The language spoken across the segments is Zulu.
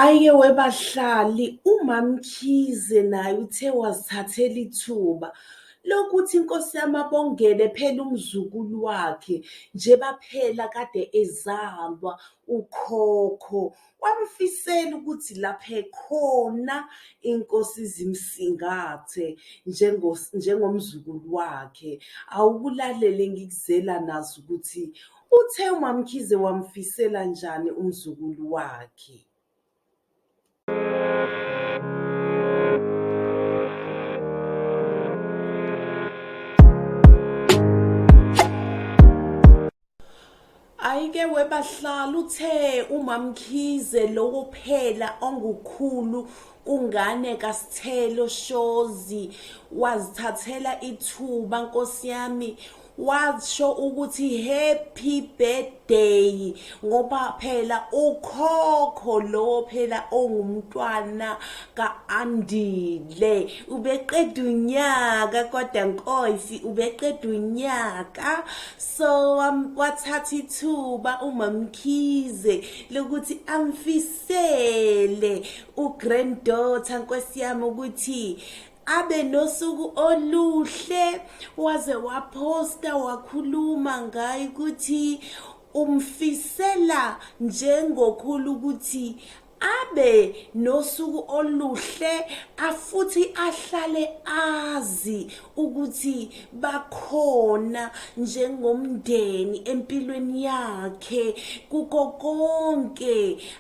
Ayike webahlali uMaMkhize naye uthe wazithathela ithuba lokuthi inkosi yami abongele phela umzukulu wakhe njeba phela kade ezalwa ukhokho wamfisela ukuthi lapha ekhona inkosi izimsingathe njengomzukulu wakhe. Awukulalele ngikuzela nazi ukuthi. Uthe uMaMkhize wamfisela njani umzukulu wakhe. Ayike webahlala uthe uMaMkhize lowo phela ongukhulu kungane kaSithelo Shozi wazithathela ithuba nkosiyami washo ukuthi happy birthday ngoba phela ukhokho lo phela ongumntwana kaAndile ubeqeda unyaka kodwa nkosi ubeqeda unyaka so wathatha ithuba umamkhize lokuthi amfisele ugranddaughter nkosi yami ukuthi abe nosuku oluhle waze waphosta wakhuluma ngayo ukuthi umfisela njengokhulu ukuthi abe nosuku oluhle afuthi ahlale azi ukuthi bakhona njengomndeni empilweni yakhe kuko konke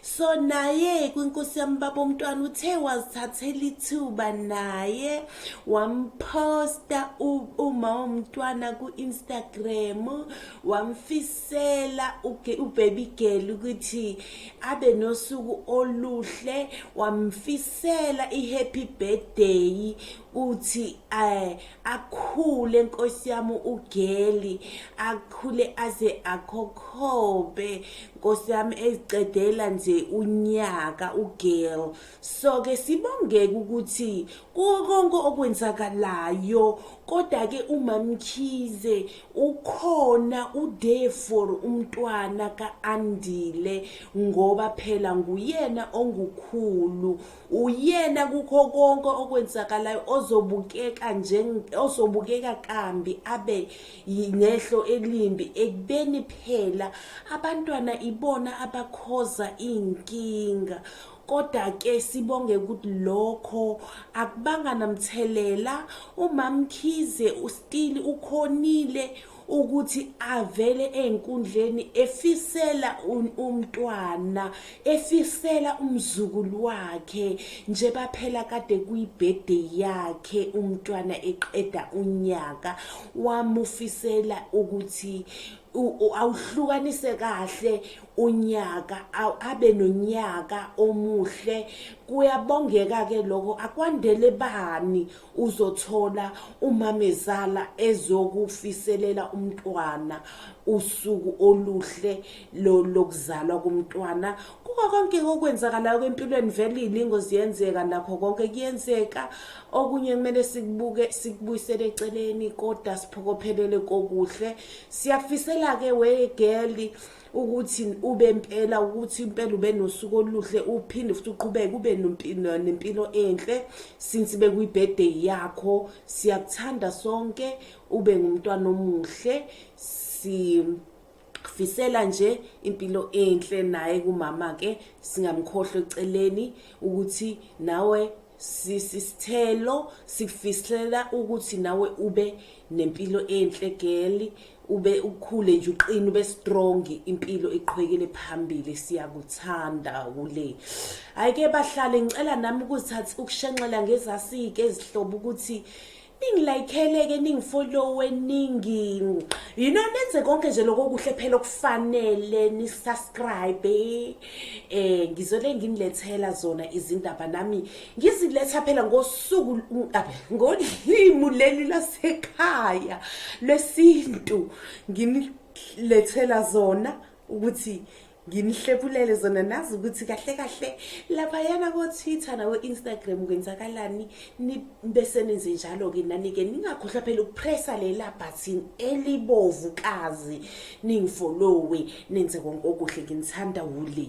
so naye kwinkosi yami baba umntwana uthe wazithathela ithuba naye wamposta uma womntwana ku-instagram wamfisela ubaby girl ukuthi abe nosuku oluhle wamfisela i-happy birthday uthi um akhule nkosi yami ugeli akhule aze akhokhobe nkosi yami eziqedela nje unyaka ugirl so ke sibongeke ukuthi kuwo konke okwenzakalayo kodwa ke umamkhize ukhona ude for umntwana kaandile ngoba phela nguyena ongukhulu Uyena kukho konke okwenzakalayo ozobukeka ozobukeka kambi abe nehlo elimbi ekubeni phela abantwana ibona abakhoza iy'nkinga kodwa ke sibonge ukuthi lokho akubanga namthelela umamkhize ustili ukhonile ukuthi avele enkundleni efisela umntwana efisela umzukulu wakhe nje baphela kade kuyibhede yakhe umntwana eqeda unyaka wamufisela ukuthi awuhlukanise kahle unyaka abe nonyaka omuhle kuyabongeka ke lokho akwandele bani uzothola umamezala ezokufiselela umntwana usuku oluhle lokuzalwa komntwana kuko konke okwenzakalayo kwempilweni vele ilingo ziyenzeka nakho konke kuyenzeka okunye kumele sikubuke sikubuyisele eceleni kodwa siphokophelele kokuhle siyakufisela-ke wegeli ukuthi ube impela ukuthi impela ube nosuku oluhle uphinde futhi uqhubeke ube nempilo enhle since bekuyibirthday yakho siyakuthanda sonke ube ngumntwana omuhle si ngifisela nje impilo enhle naye kumama ke singamkhohlwe eceleni ukuthi nawe Sisi Sithelo sikufisela ukuthi nawe ube nempilo enhle girl ube ukhule nje uqine ube strong impilo iqhwekele phambili siyakuthanda kule ayike bahlale ngicela nami ukuzithatha ukushenxela ngezasike ezihlobo ukuthi ningilayikheleke ningifollowe ningi you know nenze konke nje lokho kuhle phela okufanele nisubscribe eh ngizole nginilethela zona izindaba nami ngiziletha phela ngosuku ngolimu leli lasekhaya lwesintu nginilethela zona ukuthi nginihlephulele zona nazi ukuthi kahle kahle laphayana ko-twitter nako-instagram kwenzakalani bese nenze njalo-ke nani-ke ningakhohlwa phela ukupressa lela bhathini elibovu kazi ningifolowe nenze konke okuhle nginithanda wule